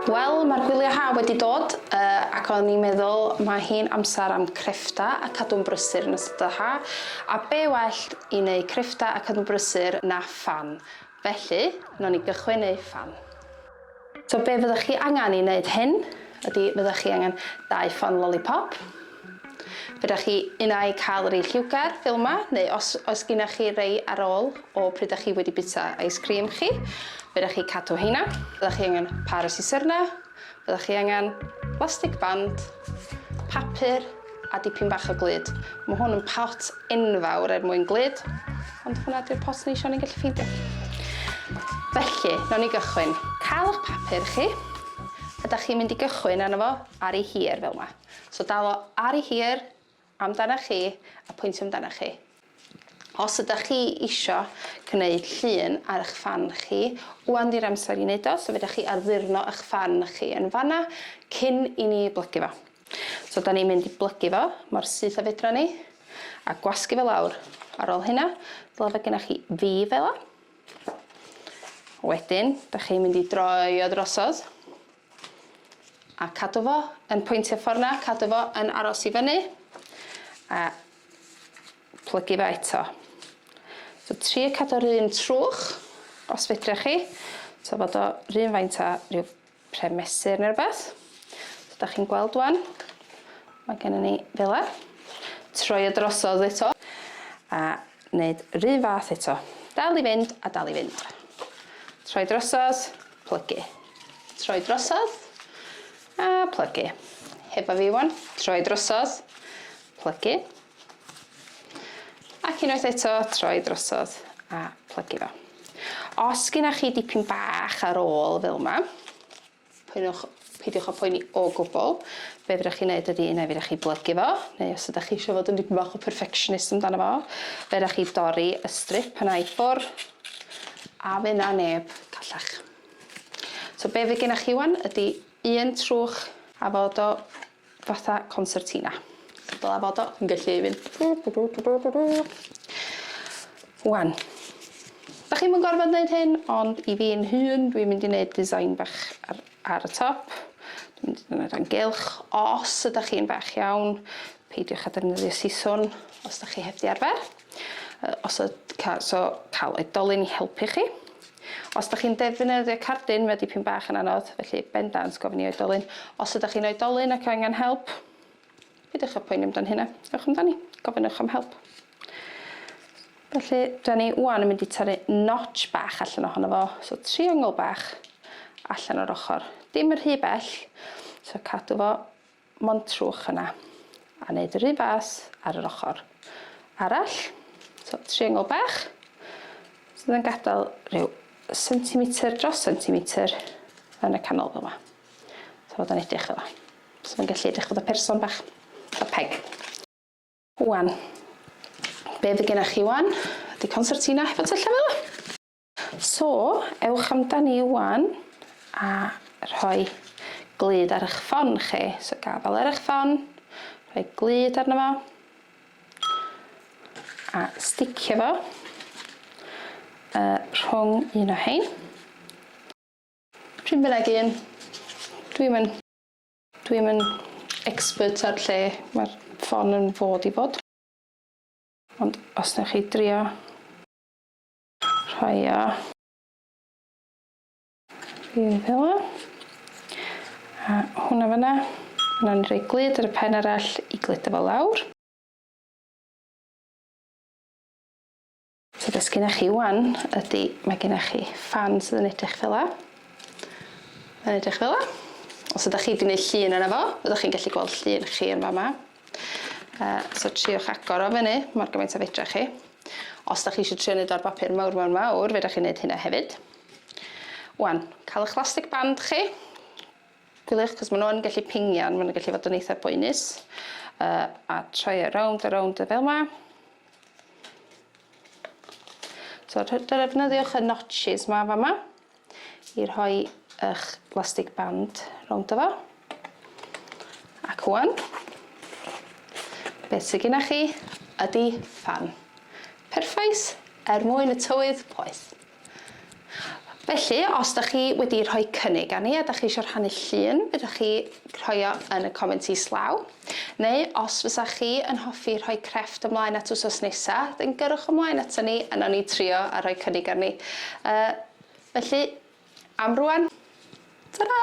Wel, mae'r gwyliau haf wedi dod, yy, ac o'n i'n meddwl mae hi'n amser am creffta a cadw'n brysur yn ystod y ha, a be' well i neu' creffta a cadw'n brysur na ffan, felly, nown ni gychwyn neu' ffan. So be' fyddech chi angen i neud hyn ydi fyddech chi angen dau ffan lolipop, Fedrwch chi un ai cael rei lliwgar fel yma, neu os oes gennych chi rei ar ôl o pryd dych chi wedi bwyta ice cream chi, fedrwch chi cadw heina. Byddwch chi angen pâr o siserna, byddwch chi angen blastig band, papur a dipyn bach o glud. Mae hwn yn pot enfawr er mwyn glud, ond hwnna ydy'r pot ni eisiau, ni'n gallu ffeindio. Felly, nawn ni gychwyn. Cael eich papur chi, a dych chi'n mynd i gychwyn arno fo ar ei hir fel yma. So dalo ar i hir amdana chi a pwyntio amdana chi. Os ydych chi isio gwneud llun ar eich fan chi, wan di'r amser i wneud o, so fedrwch chi addurno eich fan chi yn fanna cyn i ni blygu fo. So da ni'n mynd i blygu fo mor syth a fedra ni a gwasgu fo lawr. Ar ôl hynna, dyle fod gennych chi V fela. Wedyn, da chi'n mynd i droi o drosodd. A cadw fo yn pwyntio ffor 'na, cadw fo yn aros i fyny. A plygu fe eto. So trio cadw o'r un trwch, os fedrech chi. So fod o run faint a rhyw pre mesur neu rhywbeth. So da chi'n gweld wan, mae gen i ni fela. Troi o drosodd eto. A Wneud yr un fath eto. Dal i fynd a dal i fynd. Troi drosodd, plygu. Troi drosodd, a plygu. Hefo fi wan, troi drosodd, plygu. Ac unwaith eto, troi drosodd a plygu fo. Os gynnwch chi dipyn bach ar ôl fel yma, Poenwch, peidiwch â phoeni o gwbl. Be' fedrwch chi neud ydi unai fedrwch chi blygu fo, neu os ydach chi isio fod yn dipyn bach o perfectionist amdano fo, fedrwch chi dorri y strip yna i ffwr', a fy' 'na neb callach. So be' fy' gennoch chi ŵan ydi un trwch a fod o Fatha concertina. Dylai fod o yn gallu mynd. Wan. Dach chi'm yn gorfod neud hyn, ond i fi'n hun, dwi'n mynd i neud design bach ar, ar y top. Dwi'n mynd i defnyddio rhan gylch. Os ydach chi'n fach iawn, peidiwch â defnyddio siswrn os dach chi heb di arfer. Os y, ca, so cael oedolyn i helpu chi. Os ydych chi'n defnyddio cardyn, mae dipyn bach yn anodd, felly bendant gofyn i oedolyn. Os ydych chi'n oedolyn ac angen help, peidiwch â poeni amdan hynna. Ewch amdani, gofynnwch am help. Felly, da ni wan yn mynd i torri notch bach allan ohono fo, so triongl bach allan o'r ochr. Dim yn rhy bell, so cadw fo montrwch yna a neud yr un fath ar yr ochr arall. So triengl bach sydd yn gadael rhyw sentimetr dros sentimetr yn y canol fel yma. So fod yn edrych fel yma. So mae'n gallu edrych fod y person bach, y peg. Wan, be fydd gennych chi wan ydy concertina hefo tyllau fel yma. So, ewch amdani 'wan a rhoi glud ar eich ffon chi. So gafal ar eich ffon, rhoi glud arno fo, a sticio fo rhwng un o hein. Pryn bynnag un. Dwi'm yn... Dwi'm yn expert ar lle mae'r ffon yn fod i fod. Ond os newch chi drio. Rhoio fi fela. A hwnna fanna. Nawr ni'n rhoi glud ar y pen arall i gludo fo lawr. So beth sydd gennych chi wan ydy, mae gennych chi ffan sydd yn edrych fela. Mae'n edrych fela. Os ydych chi wedi gwneud llun yna fo, fyddwch chi'n gallu gweld llun chi yn fama. Uh, so triwch agor o fyny mor gymaint a fedra chi. Os da chi eisiau trio wneud o'r bapur mawr mawr mawr, fedra chi wneud hynna hefyd. Wan, cael eich lastig band chi. Gwyliwch, cos maen nhw'n gallu pingian, maen nhw'n gallu fod yn eitha boenus. Uh, a troi e rownd a rownd y fel yma. So, defnyddiwch y notches ma fa yma. i rhoi ych lastig band rowndo fo. Ac ŵan, beth sydd gennych chi ydy fan. Perffaith er mwyn y tywydd poeth. Felly, os da chi wedi rhoi cynnig arni a da chi eisiau rhannu llun, ydych chi rhoi o yn y comment islaw. Neu os fysa chi yn hoffi rhoi crefft ymlaen at wsos nesa, then gyrrwch ymlaen aton ni a nawn ni trio a rhoi cynnig arni. Yy, felly, am rwan, ta-ra!